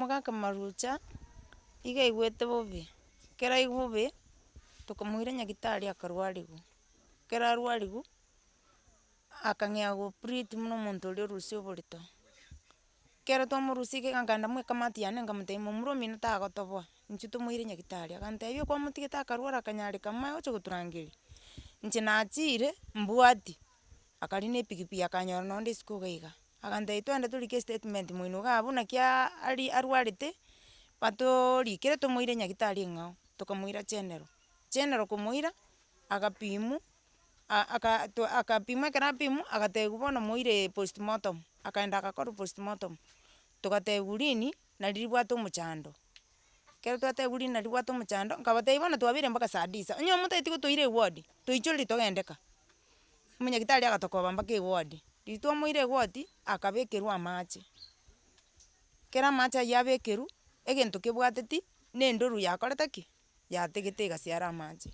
Omogaka marucha, iga aigwete bobe, ekero aigwe bobe, tokamoira nyagitari akarwariwa, ekero arwariwa, akang'ea go operate tu buna omonto oria orusia oborito, ekero twamorusia iga iga nkaenda mw'ekamati yane nkamotebia momura omino tagotoboa, inche tomoire nyagitari, agantebia okwamotigete akarwara akanyareka amaye gocha goturangeria, inche nachire mbwati, akaria na epikipiki akanyora nonde isiko iga iga, agantebia twende torike estatement moino igaa buna ki aa ari arwarete, batoorikere tomoire nyagitari eng'ao, tokomoira chenero, chenero komoira, agapimwa, a- aka twa akapimwa ekero apimwa agatebiwa bono moire postmortem, akaenda agakorwa postmortem, togatebiwa riini nari ribwate omochando, ekero twatebiwa riini nari ribwate omochando, nkabatebi bono twabeire mpaka saa disa, onye omotaeti gotoira ewodi, toichoreri togeindeka. Omonyagetari agatokoba mpaka ewodi, riria twamoire egoti, akabekerwa amache, ekero amache aywo abekerwa, egento kebwateti, na endoro yakorete ki? Yategete egasi are amache.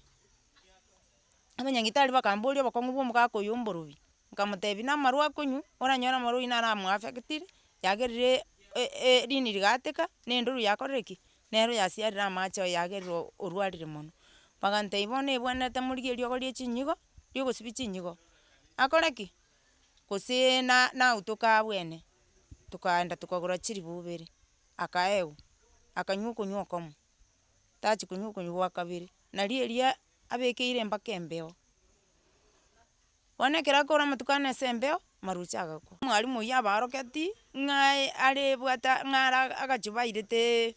Abanyagetari bakamboria obokong'u bwa omogaka oyo omborobi, nkamotebia na amarwa akonywa, oranyore amarwa oyio nara amoafectire, yagerire e- e- rini rigateka, na endoro yakorire ki? Nero yasiarire amache oyagerire orwarire mono, bagantebia bono ebwenerete morigie eriogo rie chinyigo, riogosibia chinyigo, akore ki? gose na- nautoke abwene, tokaenda tokagora chiribu ibere, akaegwa, akanywa okonywa okomo, tachi konywa okonywa gwa kabere, nario eria abekeire embaka embeo. Bono ekero akoura amatuko ane ase embeo, amaroche agakwa. Mwalimu oyio abaaroketi ng'a arebwate ng'a ara agacho bairete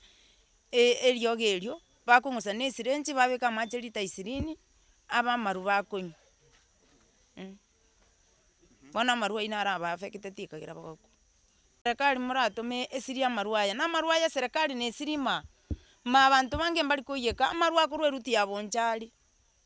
eriogi erio, bakong'usa na esirenchi babeka amache lita ishirini, abe amaru bakonywa eh. Bono amaru ayio naro abaafekete tikagera bagakwa. Serekari moratome esiri amaru aya, na amaru aya serekari nesiri maa, maa abanto bange mbari koiyeka, amaru akorwa eruti ya bonchari.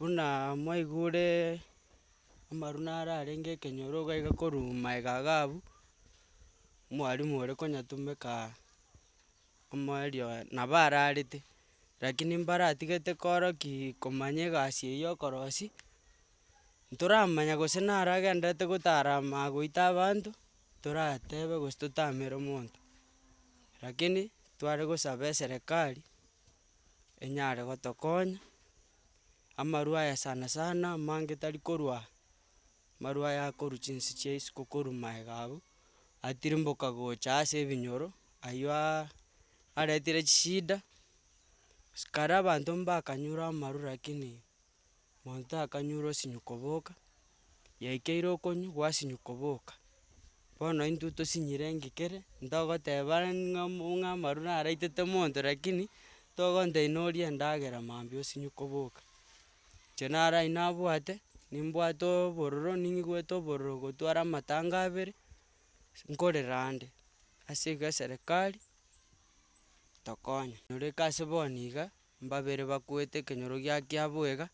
buna mwaigure amaruna ara arenge ekenyoro iga iga korwa maega iga abu, mwalimu ore konyatumeka amo erio nabo ararete, rakini mbaratigete koro ki komanya egasi eye y'okorosi, ntoramanya gose naro agenderete gotarama goita abanto, toratebe gose totamere omonto. Rakini tware gosaba eserekari. enyare gotokonya, amarwa aya sana sana amange tari korwa marwa aya akorwa chinse chia isiko korwa maega abwo, atirimboka gocha ase ebinyoro, ayioaa aretire chishida, sikari abanto mbakanyure amarwa rakini. Monto akanyora osinywa koboka, yaikeire okonywa gwasinywa koboka. Bono intwe tosinyire engekere, ntogoteba ng'a mo ng'a amaru naraitete monto rakini, togonte oi norie endagera mambia osinywe koboka. Inche naro aywo nabwate, nimbwate obororo ning'igwete obororo gotwara amatanga abere, nkorera ande ase eserekari tokonye. Nyoreka ase bono iga. Mbabere bakuete ekenyoro gia kiaboiga,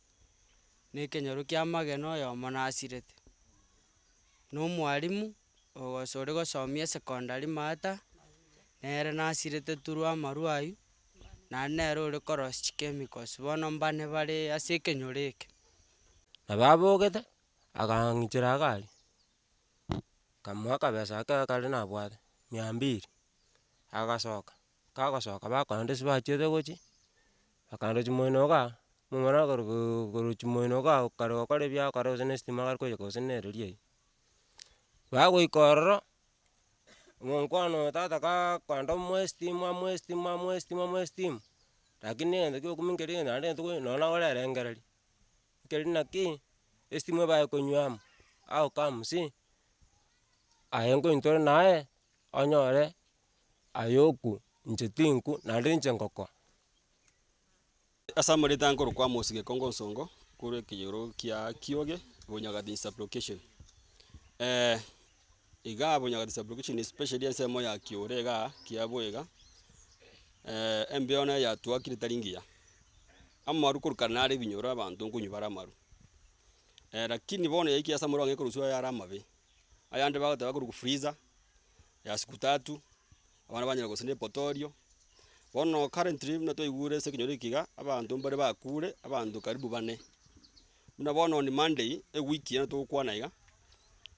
na ekenyoro ki'amagena oyomo nasirete. Na omwalimu ogose ore gosomia esecondary maata, nere nasirete turu amarwa aywo, naende nere ore korosia chichemicals, bono mbane bare ase ekenyoro eke. Nabo abogete, agang'ichera agari, nkamoa akabesa ake akare nabwate, mia mbiri, agasoka. Kagosoka bakoenda ase bachete gochia, bakaenda chimoino igaa, omomura okorokoo korwa chimoino igaa okare gokora ebiago okare gose na estima gari koiyeka gose na ereri eywo. Bagoika ororo, omokwana oyo tata kaa kwenda amoe estima amoe estima amoe estima amoe estima, rakini egento kia okumia keri egento naende tokoe nonye nagore erengererio, ekeri naki, estima ebae konywa amo, how comes, aye nkointore naye, onyore Aye oku, inche tinku, naende inche ngokoa. Ase amareta aya nkorokwa amo ase gekongo nsongo korwa ekeyoro kia kioge bonyagatinyi sublocation igaa bonyagatinyi sublocation especially ensemo ya kiore igaa kiabo iga embeo naye yatuakire tari ngiya, amaru korokana nare ebinyoro abanto nkonywa bare amaru lakini bono yaikire ase amaru ang'e ekorwa sugu aye are amabe. Ayande bagoteba akorugu Friza, Yaskutatu, abana ba nyina gose ne Potorio. Bono currently buna twaigure ase ekenyoro eke iga, abanto mbare bakure, abanto karibu bane. Buna bono on Monday, ewiki eye togokwana iga,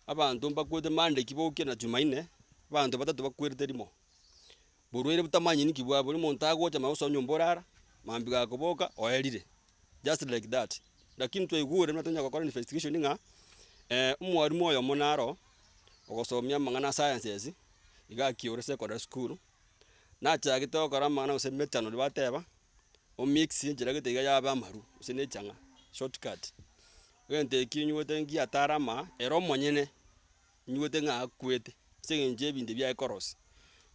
abanto mbakwete Monday kibokia na Jumaine, abanto batato bakwerete rimo. Borwaire butamanyeti nki bwabo, bori omonto agocha mambia gosoa nyomba orara, mambia iga koboka oerire, just like that. Lakini twaigure buna tonya gokora investigation ng'a omwarimu oyomo naro ogosomia amang'ana a sciences iga akiore secondary school, nachagete gokora amang'ana gose methanol bateba, o mix enchera gete iga yaba amaru gose ne echang'a, shortcut. Egento eki nigwete ngiya atare amaaa ere omonyene. Nyibuete ng'a akwete ase engencho y'ebinto ebi aekorosia.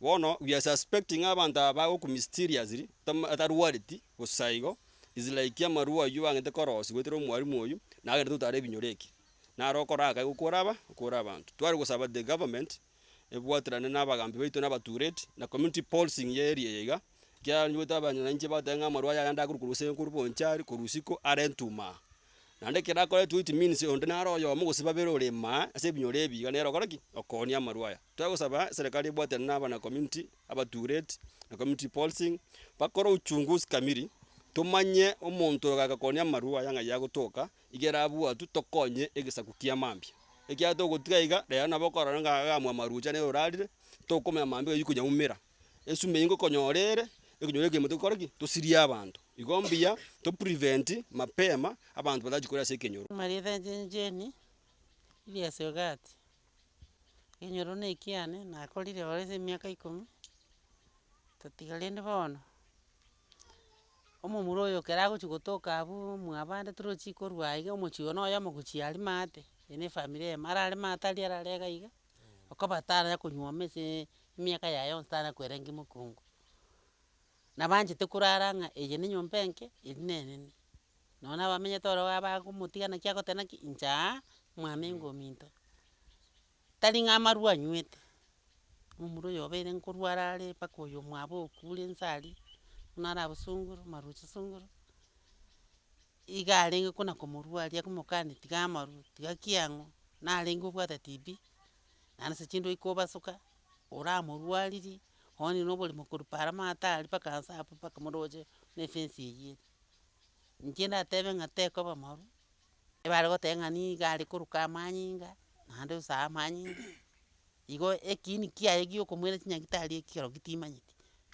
Bono we are suspecting ng'a abanto aba bagokwa mysteriously tam atarwareti bosa igo is like amarwa aywo bang'ete korosiwa goetera omwalimu oyo naye agende totare ebinyoro eke. Naro okora aka igo kore aba kore abanto. Tware gosaba the government ebwaterane na abagambi baito na abatureti na community policing y'eria eye iga Kiaranyorete abanyene nainche bagoteeba ng'a amarwa aya yande akorwa korwa ase enkurubu onchari korwa isiko are ntuma. Naende ekero akore two it means onde nare oyomo gose babere ore imaa ase ebinyoro ebi iga nere okore ki? Okoonia amarwa aya. Twagosaba eserekari ebwatane na abana community abatureti na community policing bakore uchunguzi kamili tomanye omonto oyo ogaika koonia amarwa aya ng'ai agotoka iga erabwatwe tokonye egesaku kia mambia. Ekiagera togotiga iga rero nabo okorora ng'a iga amarwa ocha nere orarire tokomanya mambia oyo okonya umera. Esumbe eye ngokonyora ere ekonyora ekemoto tokore ki? Tosirie abanto. Igo mbuya to prevent mapema abanto batachi korwa ase ekenyoro. Marieta inche Jane, Elias Ogati. Ekenyoro na ekiane, nakorire ororo ase emiaka ikomi, tatiga rende bono, omomura oyo ekero agochia gotoka abwo mwabande toro chikorwa aiga omochie oyomo na oyomo gochia aria maate, ere na efamiri eye, arare maate aria arare iga iga. okoba tarara konywoma ase emiaka yaye yonsi tara kwerenge mokungu. Na banchete korara ng'a eye nenyomba enke, eri nenene. Nonye na abamenyete ororo iga bagomotiga naki agoteba naki inche aa, mwaminga ominto. Tari ng'a amarwa anywete, omorwa oyo obeire nkorwa arare mpaka oyo omwabo okure inse aria, buna arabosongore, maroche songoro. Iga arenge kona komorua aria komokania tiga amarwe, tiga ki ang'we, narenge obwate TB, naende ase chindwe iko obasoka, oramorwaririe, onye na oboremo korwa para amato aria mpaka nsa apo mpaka moroche na efence eywo ere. Inche ndatebe ng'a tekoba marwa, ebare goteba ng'a niga are koroka amanyinga, naende osae amanyinga. Igo ekiini kiaye giokomoira chinyagitari eki ekero gitimanyeti,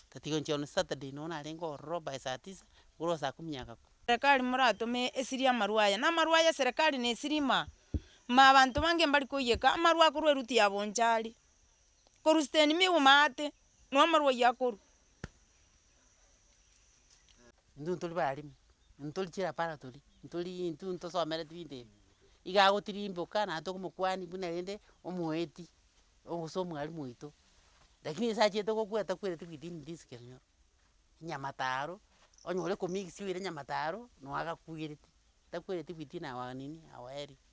tatiga gochia one Saturday nonya narenge ororo by saa tisa, igoro ase saa kumi ya gakwo. Serekari moratome esiri amarwa aya, na amarwa aya serekari ne esiri ima ima abanto bange mbari koiyeka amarwa akorwa eruti ya bonchari, korwa siteni miguma ate, noo amarwa aywo akorwa. Intwe ntori baremi, ntori chirapara tori, ntori intwe ntosomereti binto ebi, iga agotirimboka naye tore omokuani buna rende omoeti, gose omwalimu oito, lakini ase achiete gokwa atakwereti within this kerinyoro, nyamataro, onye ore komixia oire nyamataro, noo agakwireti, takwereti within our nini, our area.